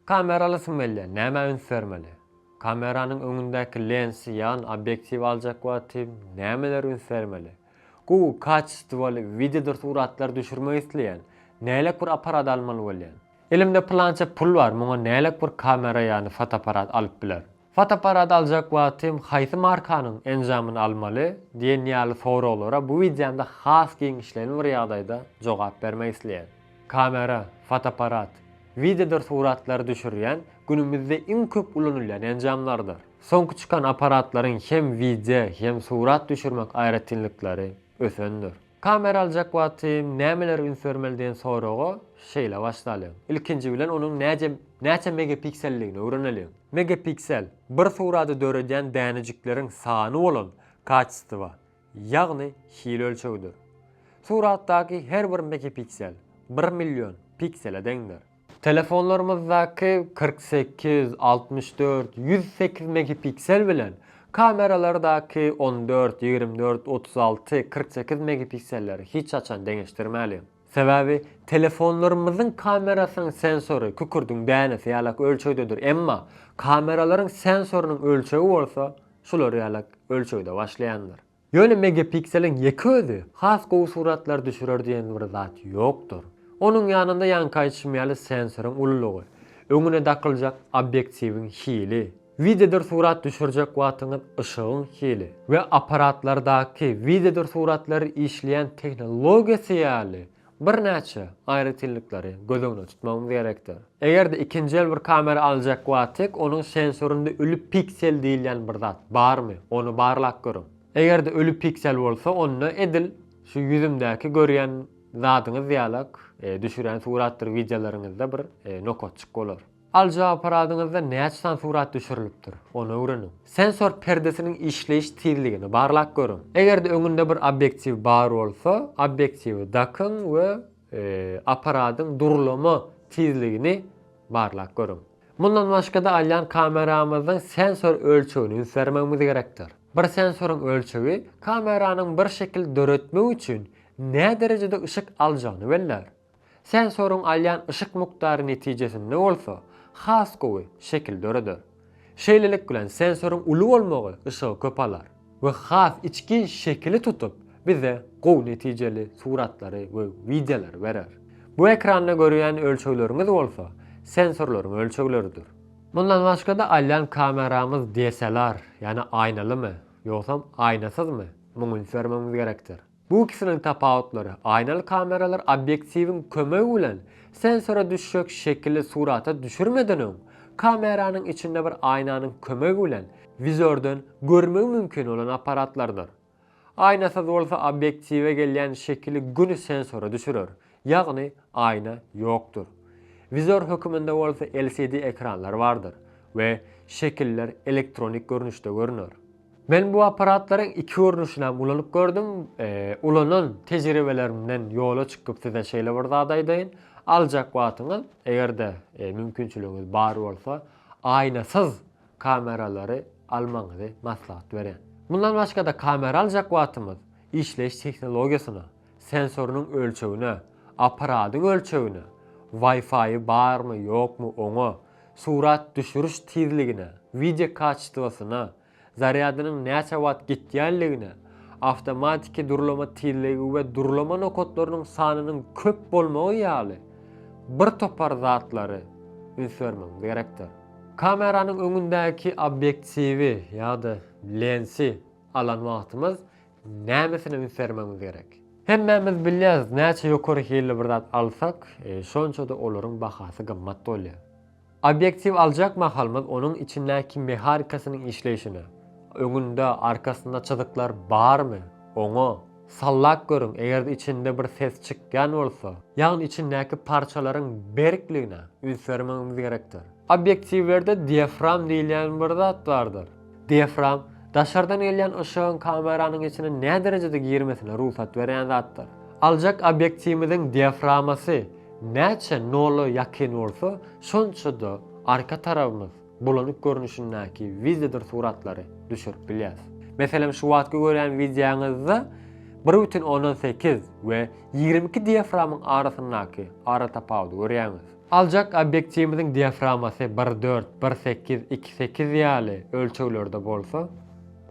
Kameraly smmlýa nämä üns bermeli? Kameranyň öňündäki lensi, ýagny obýektiwi aljak wagty nämelere üns bermeli? Gowy kaçestwoly wideodyr suratlar düşürmek isleýän, nälik bir apparat almaly bolýan? Elimde pylança pul bar, muňa nälik bir kamera ýagny fotoapparat alyp bilerin? Fotoapparat aljak wagtym haýsy markanyň enjamyny almaly? diýen ýaly soraglara bu wideomda has giňişleýin bir ýagdaýda jogap bermek isleýän. Kamera, fotoapparat, wideodyr suratlary düşürýän günümizde iň köp ulanylýan enjamlardyr. Soňky çykan apparatlaryň hem wideo, hem surat düşürmek aýratynlyklary, ösendir. Kamera aljak wagtym nämelere üns bermeli diýen soraga şeýle başlalyň. Ilkinji bilen onuň näce näçe megapikselligini öwreneliň. Megapiksel, bir surady döredýän dänejikleriň sany bolan kaçestwa, ýagny hil ölçegidir. Suratdaky her bir megapiksel, bir million, piksele deňdir. Telefonlarymyzdaky kyrk sekiz, altmyş dört, ýüz sekiz megipiksel bilen, kameralardaky on dört, ýigrimi dört, otuz alty, kyrk sekiz megipikselleri hiç haçan deňeşdirmäliň. Sebäbi telefonlarymyzyň kamerasynyň sensory kükürdiň dänesi ýalak ölçegdedir, emma kameralaryň sensorynyň ölçegi bolsa şular ýalak ölçegde başlaýandyr. Ýöne megapikseliň ýeke özi has gowy suratlar düşürer diýen bir zat ýokdur. Onuň ýanynda ýaňky aýdyşym ýaly sensoryň ululygy, öňüne dakyljak obýektiwiň hili, wideodyr surat düşürjek wagtyňyz yşygyň hili we apparatlardaky wideodyr suratlary işleýän tehnologiýasy ýaly Birnäçe aýratynlyklary göz öňünde tutmagymyz gerekdir. Eger-de ikinji el bir kamera aljak wagtyk onuň sensorynda ölü piksel diýilýän bir zat barmy, ony barlap görüň. Eger-de ölü piksel bolsa, onda edil şu ýüzümdäki görýän zadyňyz ýalak düşürýän suratdyr wideolaryňyzda bir nokatjyk bolar. Alyjy apparadyňyzda näçe sany surat düşürilipdir, ony öwreniň. Sensor perdesiniň işleýiş tizligini barlap görüň. Eger-de öňünde bir obýektiw bar bolsa, obýektiwi dakyň we apparadyň durlama tizligini barlap görüň. Mundan başga-da alýan kameramyzyň sensor ölçegini üns bermegimiz gerekdir. Bir sensoryň ölçegi kameranyň bir şekil döretmek üçin näderejede yşyk aljagyny bellär. Sensoryň alýan yşyk mukdary netijesinde bolsa has gowy şekil döreder. Şeýlelik bilen sensoryň uly bolmagy yşygy köp alar we has içgin şekili tutup, bize gowy netijeli suratlary we wideolary berer. Bu ekranda görýän ölçegleriňiz bolsa sensorlaryň ölçegleridir. Mundan başga-da alýan kameramyz DSLR, ýagny aýnalymy, ýogsam aýnasyzmy, muňa üns bermegimiz gerekdir. Bu ikisiniň tapawutlary, aýnaly kameralar obýektiwiň kömegi bilen sensora düşjek şekili surata düşürmeden öň, kameranyň içinde bir aýnanyň kömegi bilen wizordan görmegi mümkin bolan apparatlardyr. Aýnasyz bolsa obýektiwe gelýän şekili göni sensora düşürer, ýagny aýna ýokdur. Wizor höküminde bolsa LCD ekranlar bardyr we şekiller elektronik görnüşde görner. Men bu apparatlaryň iki görnüşini hem ulanyp gördüm. Ulanan tejribelerimden ýola çykyp size şeýle bir zat aýdaýyn. Aljak wagtyňyz, eger-de mümkinçiligiňiz bar bolsa, aýnasyz kameralary almagyňyzy maslahat berýän. Mundan başga-da kamera aljak wagtymyz işleýiş tehnologiýasyna, sensorynyň ölçegine, apparadyň ölçegine, Wi-Fi-i barmy, ýokmy oňa, surat düşüriş tizligine, wideo kaçestwasyna, zarýadynyň näçe wagt gitýänligine, awtomatiki durlama tizligi we durlama nokatlarynyň sanynyň köp bolmagy ýaly bir topar zatlary üns bermegiňiz gerekdir. Kameranyň öňündäki obýektiwi ýa-da lensi alan wagtymyz Nämesine üns bermegimiz gerek? Hemmämiz bilýäris, näçe ýokary hilli bir zat alsak, şonça-da olaryň bahasy gymmat bolýar. Obýektiw aljak mahalymyz onuň içindäki mehanikasynyň işleýşine, öňünde, arkasynda çyzyklar barmy, oňa sallap görüň, eger-de içinde bir ses çykýan bolsa, ýagny içindäki parçalaryň berkligine üns bermegimiz gerekdir. Obýektiwlerde diafram diýilýän bir zat bardyr. Diafram, daşardan gelýän yşygyň kameranyň içine näderejede girmesine rugsat berýän zatdyr. Aljak obýektiwimiziň diaframasy näçe nola ýakyn bolsa, şonça-da arka tarabymyz bulanyk görnüşindäki wideodyr suratlary düşürip bilýäs. Meselem, şu wagtky görýän wideoňyzda bir bütin ondan sekiz we ýigrimi iki diaframyň arasyndaky aratapawudy görýäňiz. Aljak obýektiwimiziň diaframasy bir dört, bir sekiz, iki sekiz ýaly ölçeglerde bolsa,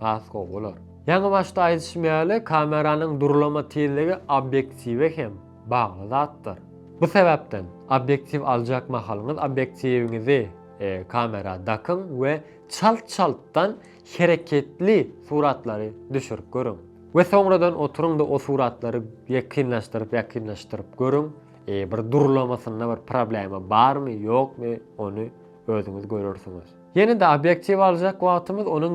has gowy bolar. Ýaňy başda aýdyşym ýaly, kameranyň durlama tizligi obýektiwe hem bagly zatdyr. Bu sebäpden, obýektiw aljak mahalyňyz obýektiwiňizi kamera dakyň we çalt-çaltdan hereketli suratlary düşürip görüň. We soňradan oturyň-da o suratlary ýakynlaşdyryp-ýakynlaşdyryp görüň. Bir durlamasynda bir problema barmy ýokmy ony özüňiz görersiňiz. Ýene-de obýektiw aljak wagtymyz onuň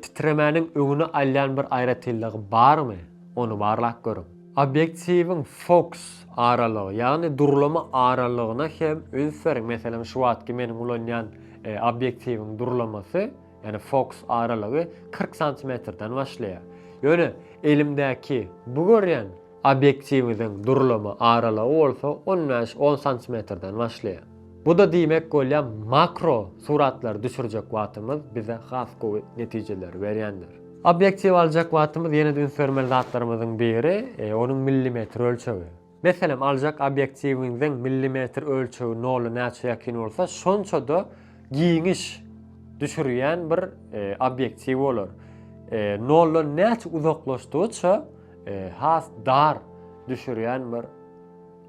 titremäniň öňüni alýan bir aýratynlygy barmy ony barlap görüň. Obýektiwiň foks aralygy ýagny durlama aralygyna hem üns beriň. Meselem şu wagtky meniň ulanýan obýektiwiň durlamasy ýagny foks aralygy kyrk santimetrden başlaýar. Ýöne elimdäki bu görýän Obýektiwiňiziň durulama aralygy bolsa on bäş on santimetrden başlaýar. Bu-da diýmek bolýar, makro suratlary düşürjek wagtymyz bize has gowy netijeleri berýändir. Obýektiwi aljak wagtymyz ýene-de üns bermeli zatlarymyzyň biri, onuň millimetr ölçegi. Meselem, aljak obýektiwiňiziň millimetr ölçegi nola näçe ýakyn bolsa, şonça-da giňiş düşürýän bir obýektiw bolar. Noldan näçe uzaklaşdygyça, has dar düşürýän bir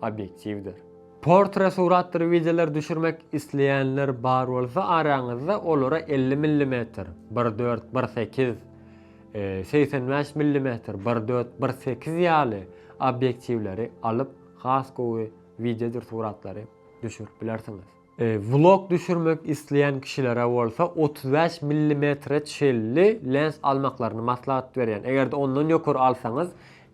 obýektiwdir. Portre suratdyr wideolar düşürmek isleýänler bar bolsa araňyzda olara elli millimetr, bir dört, bir sekiz, segsen bäş millimetr, bir dört, bir sekiz ýaly obýektiwleri alyp has gowy wideodyr suratlary düşürip bilersiňiz. Vlog düşürmek isleýän kişilere bolsa otuz bäş millimetre çenli lens almaklaryny maslahat berýän. Eger-de ondan ýokary alsaňyz,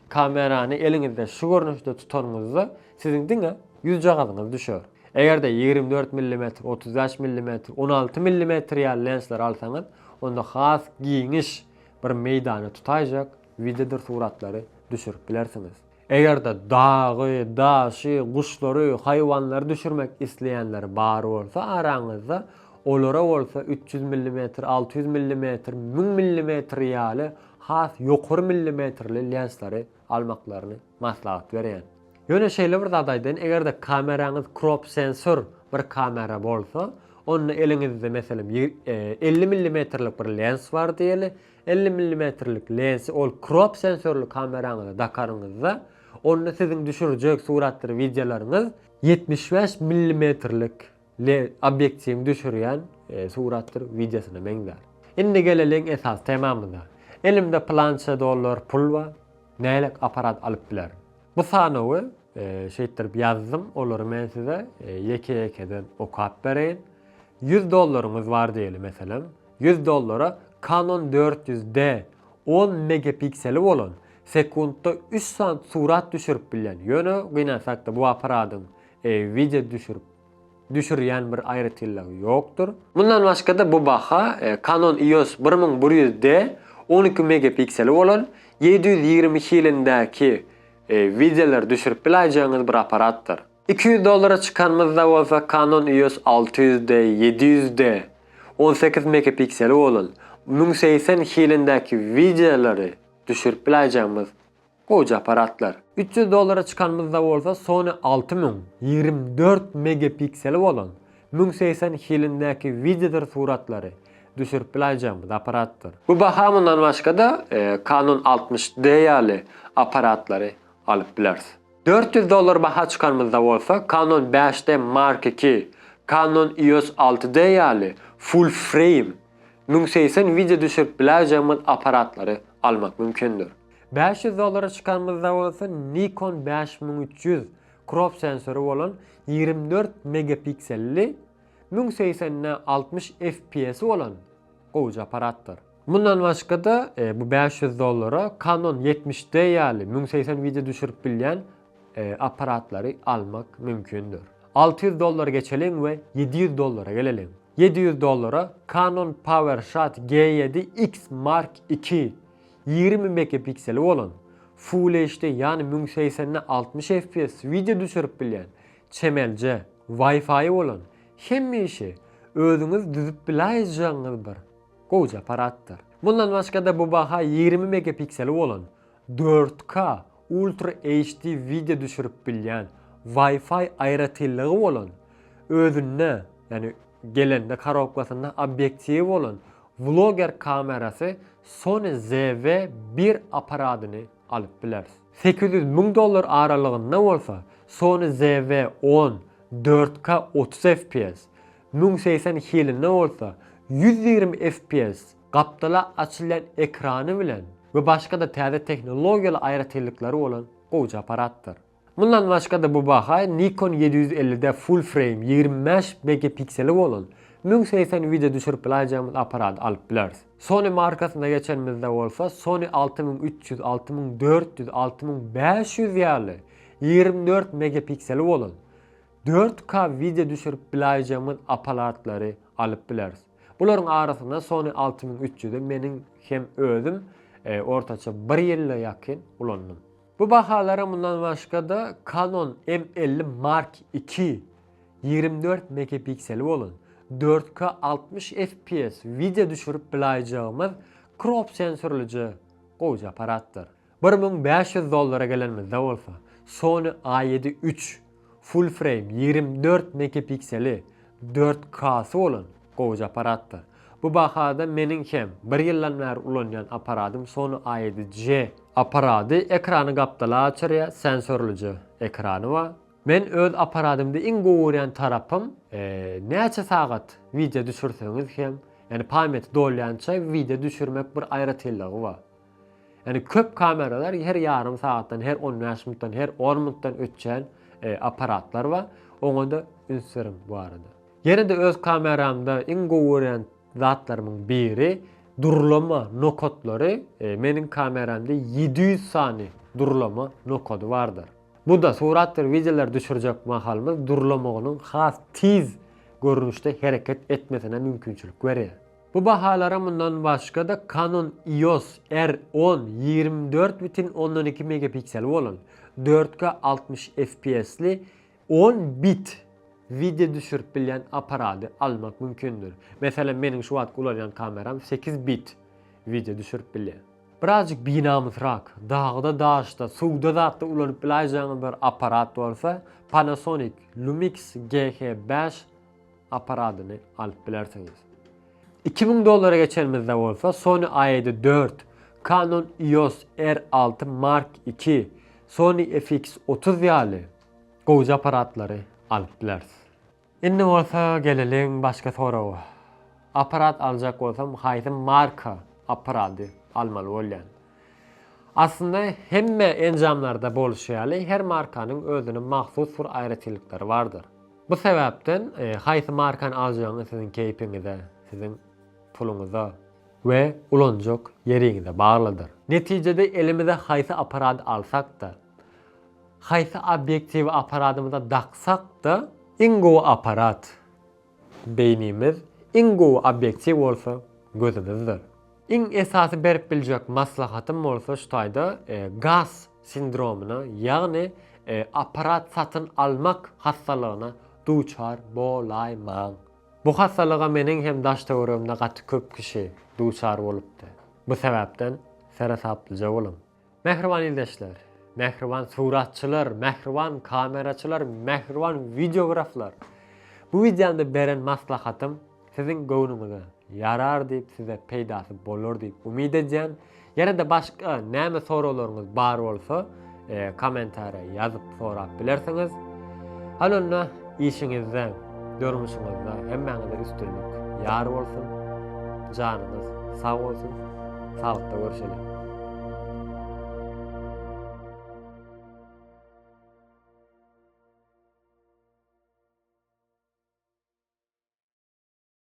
kamerany eliňizde şu görnüşde tutanyňyzda siziň diňe ýüzjagazyňyz düşer. Eger-de ýigrimi dört millimetr, otuz bäş millimetr, on alty millimetr ýaly lensleri alsaňyz, onda has giňiş bir meýdany tutaýjak wideodyr suratlary düşürip bilersiňiz. Eger-de dagy, daşy, guşlary, haýwanlary düşürmek isleýänler bar bolsa araňyzda, olara bolsa üç ýüz millimetr, alty ýüz millimetr, müň millimetr ýaly has ýokary millimetrli lenslary almaklaryny maslahat berýän. Ýöne şeýle bir zat aýdaýyn, eger-de kameraňyz krop sensor bir kamera bolsa, onda eliňizde, meselem, elli millimetrlik bir lens bar diýeli, Elli millimetrlik lensi ol krop sensorly kameraňyza dakaryňyzda, onda siziň düşürjek suratdyr wideolaryňyz ýetmiş bäş millimetrlik obýektiwiň düşürýän suratdyr wideosyna meňzär. Indi geleliň esasy temamyza. Elimde plança dollar pul bar, nähili apparat alyp bilerin? Bu sanawy şeýtdirip ýazdym, olary men size ýeke-ýekeden okap bereýin. Ýüz dollaryňyz bar diýeli meselem. Ýüz dollara Canon dört ýüz D on megapikseli bolan, sekuntda üç sant surat düşürip bilýän, ýöne gynansakda bu apparadyň wideo düşürip düşürýän bir aýratynlygy ýokdur. Mundan başgada bu baha Canon EOS bir müň bir ýüz D on iki megapikseli bolan, ýedi ýüz ýigrimi hilindäki wideolar düşürip biläýjegiňiz bir apparatdyr. Iki ýüz dollara çykanymyzda bolsa Canon EOS alty ýüz D ýedi ýüz D on sekiz megapikseli bolan müň segsen hilindäki wideolary düşürip biläýjegimiz gowja apparatlar. Üç ýüz dollara çykanymyzda bolsa Sony alty müň ýigrimi dört megapikseli bolan müň segsen hilindäki wideodyr suratlary düşürip biläýjegimiz apparatdyr. Bu baha mundan başga-da Canon altmyş D ýaly apparatlary alyp bileris. Dört ýüz dollar baha çykanymyzda bolsa Canon bäş D Mark iki, Canon EOS alty D ýaly full frame, müň segsen wideo düşürip biläýjegimiz apparatlary almak mümkindir. Bäş ýüz dollara çykanymyzda bolsa Nikon bäş müň üç ýüz crop sensory bolan ýigrimi dört megapikselli, müň segsen de altmyş FPS-i bolan gowja apparatdyr. Mundan başga-da, bu bäş ýüz dollara Canon ýetmiş D ýaly müň segsen wideo düşürip bilýän apparatlary almak mümkindir. Alty ýüz dollary geçeliň we ýedi ýüz dollara geleliň. Ýedi ýüz dollara Canon PowerShot G ýedi X Mark iki ýigrimi megapikseli bolan, Full HD ýany müň segsende altmyş fps wideo düşürip bilýän, çemelje, Wi-Fi bolan, hemişe özüňiz düzüp biläýjegiňiz bir, Gowja apparatdyr. Mundan başga-da bu baha ýigrimi megapikseli bolan, dört K Ultra HD wideo düşürip bilýän, Wi-Fi aýratynlygy bolan, özünde, ýagny gelende karobkasynda obýektiwi bolan Vlogger kamerasy Sony ZV bir apparadyny alyp bileris. Sekiz ýüz müň dollar aralygynda bolsa Sony ZV on, dört K otuz fps, Müň segsen iki ýylynda bolsa ýüz ýigrimi fps gapdala açylýan ekrany bilen we başga-da täze tehnologiýaly aýratynlyklary bolan gowyja apparatdyr. Mundan başga-da bu baha Nikon ýedi ýüz ellide full frame ýigrimi bäş megapikseli bolan müň segsen wideo düşürip bilaýjagymyz apparady alyp bileris. Sony markasyna geçenimizde bolsa Sony alty müň üç ýüz, alty müň dört ýüz, alty müň bäş ýüz ýaly ýigrimi dört megapikseli bolan Dört K wideo düşürip bilaýjagymyz apalatlary alyp bileris. Bularyň arasynda Sony alty müň üç ýüzi meniň hem özüm ortaça bir ýyla ýakyn ulandym. Bu bahalara mundan başga-da Canon M elli Mark iki ýigrimi dört megapikseli bolan, dört K altmyş fps wideo düşürip bilaýjagymyz krop sensorlyja gowja aparatdyr. Bir müň bäş ýüz dollara gelenimizde bolsa, Sony A ýedi üç, Full Frame, ýigrimi dört megapikseli, dört K-sy bolan gowyja apparatdyr. Bu bahada meniň hem bir ýyldan bäri ulanýan apparadym Sony A ýedi C. Apparady ekrany gapdala açyrýar, sensorlyja ekrany bar. Men öz apparadymda iň gowy görýän tarapym, näçe sagat wideo düşürseňiz hem, ýagny pamýati dolýança wideo düşürmek bir aýratynlygy bar. Ýani köp kameralar her ýarym sagatdan, her on bäş minutdan, her on minutdan öçýän apparatlar bar. Oňada üns beriň bu barada. Ýene-de öz kameramda iň gowy görýän zatlarymyň biri durlama nokatlary. Meniň kameramda ýedi ýüz sany durlama nokady bardyr. Bu-da suratdyr wideolar düşürjek mahalymyz durlamagynyň has tiz görnüşde hereket etmesine mümkinçilik berýär. Bu bahalara mundan başga-da Canon EOS R on ýigrimi dört bütin ondan iki megapikseli bolan, dört K altmyş FPS-li on bit wideo düşürip bilýän apparady almak mümkindir. Meselem, meniň şu wagtky ulanýan kameram sekiz bit wideo düşürip bilýär. Birazjyk binamysrak, dagda-daşda, suwda-zatda ulanyp bilaýjäňiz bir apparat bolsa, Panasonic Lumix GH bäş aparadyny alyp bilersiňiz. Iki müň dollara geçenimizde bolsa Sony A7 dört, Canon EOS R alty Mark iki, Sony FX otuz ýaly gowja aparatlary alyp bileris. Indi bolsa geleliň başga soraga. Aparat aljak bolsam haýsy marka aparady almaly bolýan? Aslynda hemme enjamlarda bolşy ýaly her markanyň özüne mahsus bir aýratynlyklary bardyr. Bu sebäpden haýsy markany aljagyňyz siziň keýpiňize, siziň puluňyza we ulanjak ýeriňize baglydyr. Netijede elimize haýsy apparady alsak-da, haýsy obýektiwi apparadymyza daksak-da, iň gowy apparat beýnimiz, iň gowy obýektiw bolsa gözümizdir. Iň esasy berip biljek maslahatym bolsa şu taýda GAS sindromyna, ýagny apparat satyn almak hassalygyna duçar bolaýmaň. Bu hassalyga meniň hem daş-töweregimde gaty köp kişi duçar bolupdy. Bu sebäpden seresaplyja boluň. Mähriban ildeşler, mähriban suratçylar, mähriban kameraçylar, mähriban wideograflar! Bu wideomda beren maslahatym siziň göwnüňize ýarar diýip, size peýdasy bolar diýip umyt edýän. Ýene-de başga näme soraglaryňyz bar bolsa, kommentariýa ýazyp Sorap bilersiňiz. Hany onda işiňizde, durmuşyňyzda hemmäňize üstünlik ýar bolsun. Janyňyz sag bolsun. Sagbtda görüşelim.